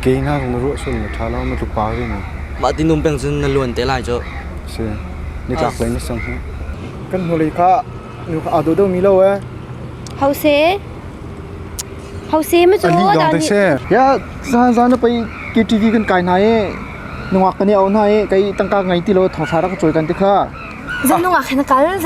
Kei ngaknu na ruahsuan na ṭha lo na tlupa rian in. Mah tinum peng cun na luan te lai cu. Si. Nitlak lei na sang hna. Kan hnulei kha nu kha aa daw deuhmi lo ee. Hause. Hause ma cu. Ani dong te se. Ya zan zan na pei KTV kan kai hna ee. Nungak kan i au hna ee. Kai tangka ngai ti lo thawsa rak cawi kan ti kha. Zan nungak hin kal.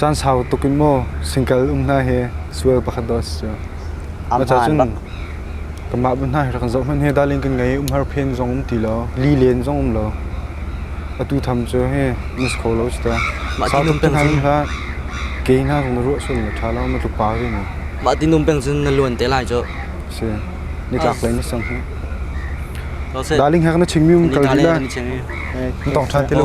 Caan sau tuk in maw singkal um hna hi sual pakhat dawh a si cu. Maca cun kanmah bu hna hi rak kan zoh hmanh hi darling kan ngei umhar phen zong um ti lo li len zong um lo atu tham cu hi mas kho lo ci ta sau tuk cu hlan hla ke hna zong na ruah sun le tha lo na tluk pa ri ne mah tin um peng cun na luan te lai cu si ni tlak lai ni sang hi darling hek na ching mi um kal di la tong than te lo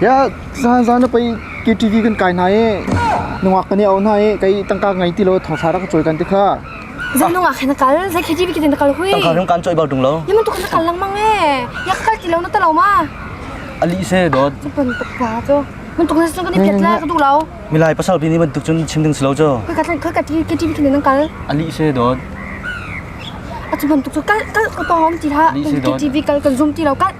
Hiah, zaan na pei KTV kan kai hna i nungak kan i au hna i kei tangka ngei ti lo thawsa rak ka cawi kan ti kha. Zan nungak he na kal, zai KTV kitin na kal hui. Tangka rung kan coi bal tung lo. Yaman tu kan kal langmang e. Yak kal ti lo na ta lo ma. Ali se dot. Pan paka tu. Mun tuk na sun kan i piat la ka tu lo. Milai pasal pi ni bantuk cun chim ding si lo co. Koi ka tan koi ka KTV kitin nang kal. Ali se dot. Atu man tuk tu kal kal ka pahom ti la. KTV kal kan zoom ti lo kal.